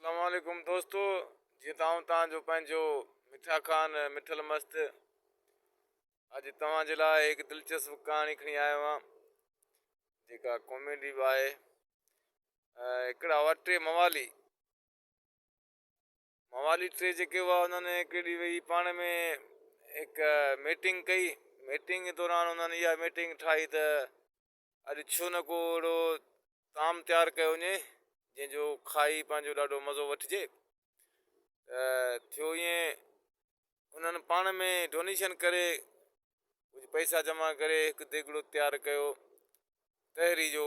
اسلام عليڪم دوستو جيئن ته آئون توهان جو پنهنجو مٺا خان مٺل مست اڄ توهان جي لاء هڪ دلچسپ ڪهاڻي کڻي آيو آهيان جيڪا ڪاميڊي به آهي هڪڙا هئا ٽي موالي موالي ٽي جيڪي هئا انهن هڪ ڏينهن ويهي پاڻ ۾ هڪ ميٽنگ ڪئي ميٽنگ دوران انهن اها ميٽنگ ٺاهي ته اڄ ڇو نه ڪو اهڙو طعام تيار ڪيو وڃي جنهن جو کائي پنهنجو ڏاڍو مزو وٺجي ته ٿيو ائين انهن پاڻ ۾ ڊونيشن ڪري ڪجهه پئسا جمع ڪري هڪ ديڳڙو تيار ڪيو تهري جو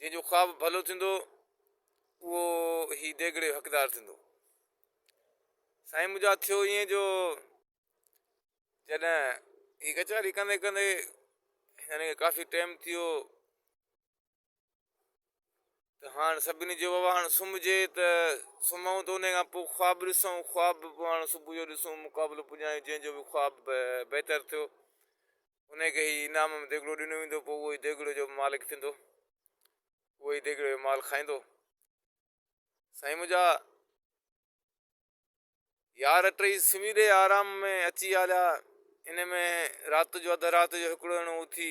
جنهن جو خواب ڀلو ٿيندو اهو هي ديڳڙي جو حقدار ٿيندو. سائين منهنجا ٿيو ائين جو جڏهن هي ڪچهري ڪندي ڪندي هن کي ڪافي ٽيم ٿيو ته هاڻ سڀني جو بابا هاڻ سمهجي ته سمهون ته ان کان پوء خواب ڏسون خواب به پوء هاڻ صبح جو ڏسون مقابلو پڄائيون جنهن جو به خواب بهتر ٿيو انهيء کي ئي انعام ۾ ديڳڙو ڏنو ويندو، پوء اهو ئي ديڳڙي جو مالڪ ٿيندو، اهو ئي ديڳڙي جو مال کائيندو. سائين منهنجا يار ٽيئي سمهي ڏي آرام ۾ اچي هليا، ان ۾ رات جو اڌ رات جو هڪڙو ڄڻو اٿي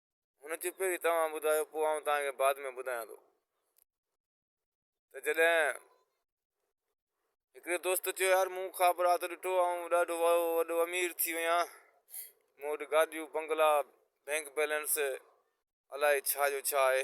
هن چيو پهرين توهان ٻڌايو پوء آئون توهان کي بعد ۾ ٻڌايان ٿو ته جڏهن هڪڙي دوست چيو يار مون خواب رات ڏٺو آئون ڏاڍو وڏو امير ٿي ويا مون وٽ گاڏيون بنگلا بينڪ بيلنس الائي ڇا جو ڇا آهي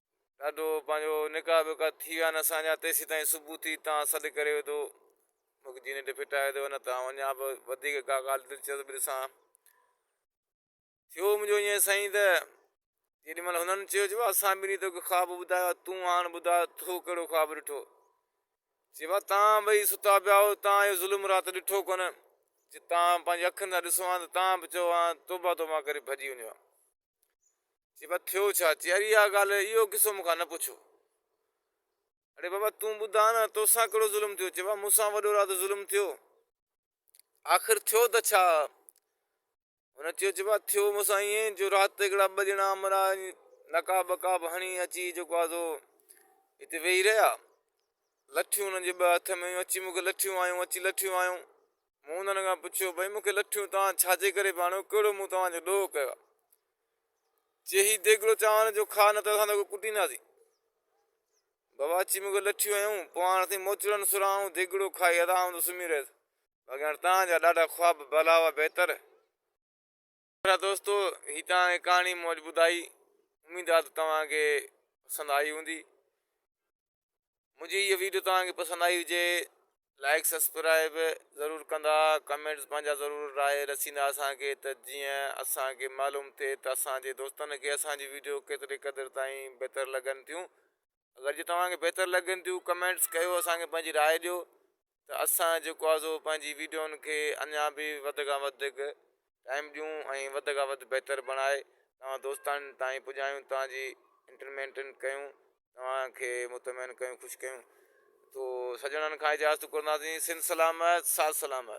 ڏاڍو پنهنجو نڪاح وڪاح ٿي ويا آهن اسان جا تيسيتائين صبح ٿي تان سڏ ڪري وڌو مک جي نيٽ ڦٽائي وڌو نه ته آئون اڃا به وڌيڪ ڪا ڳالهه دلچسپ ڏسان ٿيو منهنجو ائين سائين ته جيڏي مهل هنن چيو جو اسان ٻنهي توکي خواب ٻڌايو تون هاڻ ٻڌاء تو ڪهڙو خواب ڏٺو چيو آهي تان ٻئي ستا پيا هو تان اهو ظلم رات ڏٺو ڪونه چي تان پنهنجي اکين سان ڏسو آن ته تان به چئو آن توبه توبه ڪري ڀڄي وڃو چئي پيا ٿيو ڇا؟ چئي اري اها ڳالهه اهو قصو مون کان نه پڇو. اڙي بابا تون ٻڌاء نه تو سان ڪهڙو ظلم ٿيو؟ چئي پيا مون سان وڏو رات ظلم ٿيو. آخر ٿيو ته ڇا؟ هن چيو چئي پيا ٿيو مون سان ائين جو رات هڪڙا ٻه ڄڻا امرا نقاب وقاب هڻي اچي جيڪو آهي سو هتي ويهي رهيا. لٺيون هنن جي ٻه هٿ ۾ هيون اچي مون کي لٺيون هنيون اچي لٺيون هنيون. مون انهن کان پڇيو، ڀئي مون کي لٺيون توهان ڇا جي ڪري پيا آڻيو، ڪهڙو مون توهان جو ڏوهه ڪيو آهي؟ جي هي ديڳڙو چانورن جو کاء نه ته اسان توکي ڪٽينداسين. بابا اچي مون کي لٺيون هنيون، پوء هاڻ اٿئي موچڙن سران آئون ديڳڙو کائي آرام سان سمهي رهيس. باقي هاڻ توهان جا ڏاڍا خواب ڀلا هئا بهتر. پيارا دوستو هي توهان کي ڪهاڻي مون اڄ ٻڌائي اميد آ ته توهان کي پسند آئي هوندي منهنجي هي ويڊيو توهان کي پسند آئي هجي لائڪ سبسڪرائب ضرور ڪندا ڪمينٽس پنهنجا ضرور راء رسيندا اسان کي ته جيئن اسان کي معلوم ٿئي ته اسان جي دوستن کي اسان جي ويڊيو ڪيتري قدر تائين بهتر لڳن ٿيون اگر جي توهان کي بهتر لڳن ٿيون ڪمينٽس ڪيو اسان کي پنهنجي راء ڏيو ته اسان جيڪو آهي سو پنهنجي ويڊيون کي اڃا به وڌ کان وڌ ٽائيم ڏيون ۽ وڌ کان وڌ بهتر بڻائي توهان دوستان تائين پڄايون توهان جي انٽرمينٽن ڪيون توهان کي مطمئن ڪيون خوش ڪيون تو سڄڻن کان اجازت گهرنداسين سنڌ سلامت ساٿ سلامت.